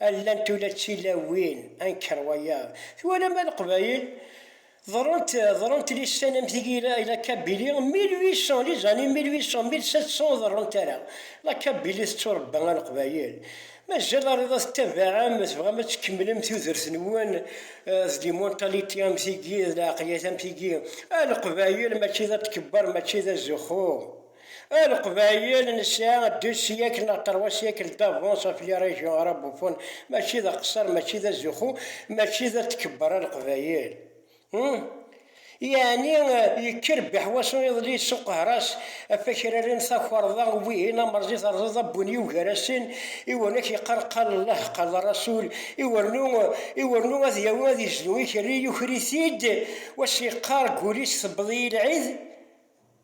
Llant ula d tilawin anker wayeḍ. Twalam a Leqbayel? Ḍerrent, ḍerrent lissan am tigi i la Kabylie, mille huit cents, les années mille huit cents, mille sept cents ur ḍerrunt ara. La Kabylie tetturebba a Leqbayel. Mazal ariḍ a tettabaɛem, tebɣam ad tkemmlem tudert-nwen d limuntalité am tigi, d lɛeqliyat am tigi. A Leqbayel mačči d atkebbar, mačči d azuxxu. A leqbayel nesɛa deux siècles neɣ trois siècles d'avance ɣef les régions arabophones, mačči d aqesser, mačči d azuxxu, mačči d at tkebber a leqbayel. Hum! Yeɛni yekker Biḥwaṣu iḍelli yessuqehras ɣef akraren takerḍa wihin amerẓi terẓeḍ abbu n yiw gar-asen, iwrn ak yeqqar qal llah qal rasul, iwrnu iwrnu ad yawi ad yezdu ikerri yuker-it-id, wass yeqqar deg wul-is tewweḍ-iyi lɛid?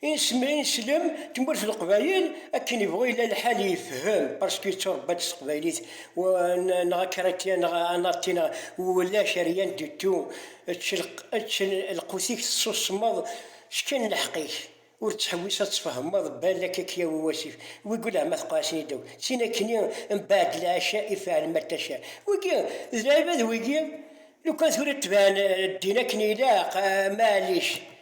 Insemrin slem tmurt leqbayel akken ibɣu yella lḥal yefhem parce que yetturebba-d s teqbaylit w neɣ akratya neɣ anati neɣ wulac rien du tout ečč ečč lqut-ik tessusmeḍ s kan leḥq-ik ur ttḥewwis ad tfehmeḍ balak a k-yawi wasif wigi lehma teqɛasen-iyi-d akk d tin akkenni mbaɛd lɛaca i feɛl ma taca wigi d lɛibad wigi lukan tura tban ddin akken ilaq maɛlic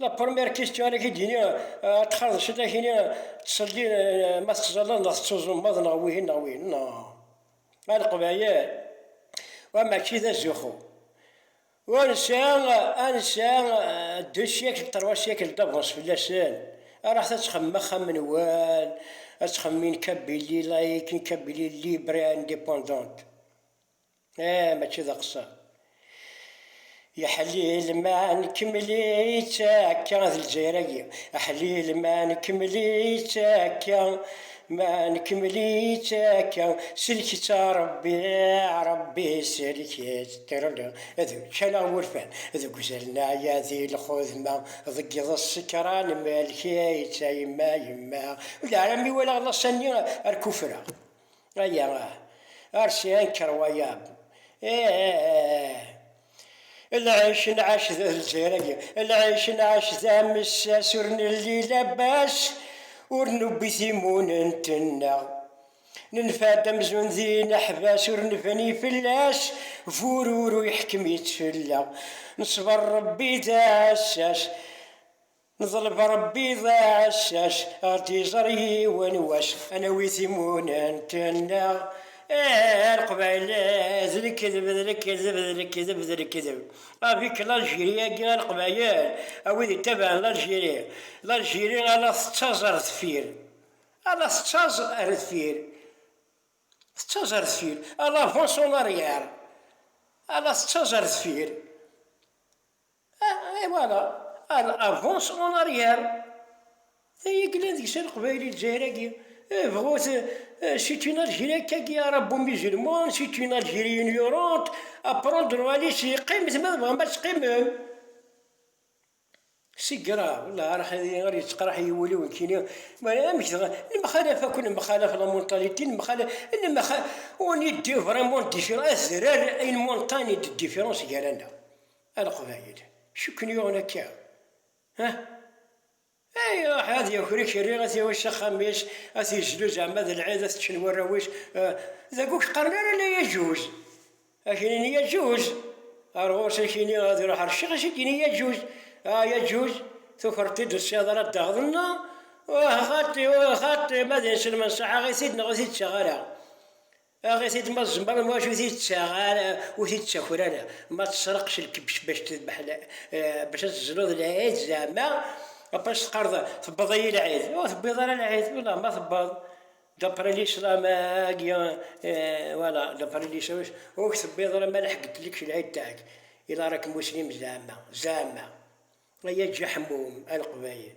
La première question ara k-id-yini ad txaḍ ciṭ ad k-yini ttṣelli ma tettẓallaḍ neɣ tettuẓumaḍ neɣ wihin neɣ wihin neɣ a leqbayel wa mačči d azuxxu ur nesɛi ad nesɛi ddu syakl ṭerwa syakl d'avance fell-asen araɣ ta ad texmem axxam-nwen ad texmem une Kabylie laïque une Kabylie libre et indépendante Ah, mačči d aqeṣṣer. Yeḥlil ma nkemmel-itt akka d Lezzayer-agi. Aḥlil ma nkemmel-itt akka, ma nkemmel-itt akka. Sellek-itt a Rebbi, a Rebbi sellek-itt. Tirrlli, d ččan-aɣ wurfan deg uzal n ɛya di lxudma, deg iḍes sekran melk-itt a yemma, yemma. Ulaɛra mi walaɣ laṣa-nni ar kuffreɣ. Aya ah. Arsi anker wayab. Eh eh eh. Lɛic nɛac d leziragi. Lɛic nɛac d amessas ur nelli labas ur newwi timunent-nneɣ. Nenfa-d amzun d ineḥbas ur nebni fell-as bururu iḥkem-itt fell-aɣ. Nesber Rebbi d aɛessas. Neḍleb Ṛebbi d aɛessac, ar d-iẓer yiwen wass, a nawi timunent-nneɣ, ah a Leqbayel, d lekdeb, d lekdeb, d lekdeb, d lekdeb, avik l'Algérie-agi a Leqbayel, a wid ittabaɛen l'Algérie, l'Algérie a la tettaẓ ar deffir, a la tettaẓ ar deffir, tettaẓ ar deffir, elle avance en arrière, a la tettaẓ ar deffir. Et voilà, elle avance en arrière. Ay glan deg-s a leqbayel i lezzayer-agi. Bɣut, c'est une Algérie kagi arabo musulman, c'est une Algérie ignorante, à prendre à laisser, qqimet ma tebɣam ad teqqimem. C'est grave, la arah ad iɣer yettqraḥ i wul-iw nekkini, mara amek dɣa, nemxalaf akk, nemxalaf la mentalité, nemxalaf, on est vraiment différents, azrar, une montagne de différence gar-aneɣ. A Leqbayel, acu i ken-yuɣen akka? Ah! Ay iruḥ ad yaker ikerri, ad t-yawi s axxam-is, ad t-yezlu zeɛma d lɛid, ad t-ččen warraw-is, dagi ur k-qqaren ara la yaǧuz! Ad k-inin yaǧuz! Ar ɣur-s ad k-ini, ad iruḥ ar ccix, ad s-id-yini yaǧuz! Ah yaǧuz! Tukreḍ-t-id ur tesɛiḍ ara ddeɣdeḍ neɣ? Uh xaṭi, uh xaṭi, ma d inselmen ṣaḥaɣ-it-id neɣ ur t-id-ttaɣ ara! Aɣ-it-id ma tzemreḍ, maca ur t-id-ttaɣ ara, ur t-id-ttaker ara. Ma tesreq s lkebc bac tedbeḥ, bac ad tezluḍ lɛid zeɛma, après s-teqqareḍ tewweḍ-iyi lɛid, ur tewwiḍ ara lɛid, ulah ma tewweḍ, d'après l'islam agi, voilà, d'après l'islam ur k-tewwiḍ ara ma lḥeggent-lek s lɛid taɛk, ila rakem muslim zeɛma, zeɛma, ay aǧaḥmum, a leqbayel.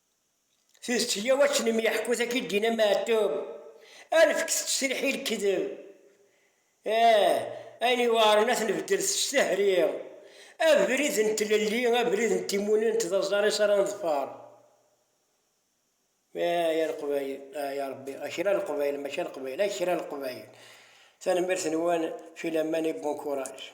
Tidet yya wačen i m-yeḥku tagi Dina Meɛtub, alef kkset ttesriḥi lekdeb, ah ayen yuɛren ad t-nbeddel s ttehri, abrid n tlelli, abrid n timunent d aẓaris ara neḍfer, ah ya Leqbayel, ah ya Rebbi, a kra n Leqbayel mačči a Leqbayel, a kra n Leqbayel, tanemmirt-nwen, filaman et bon courage.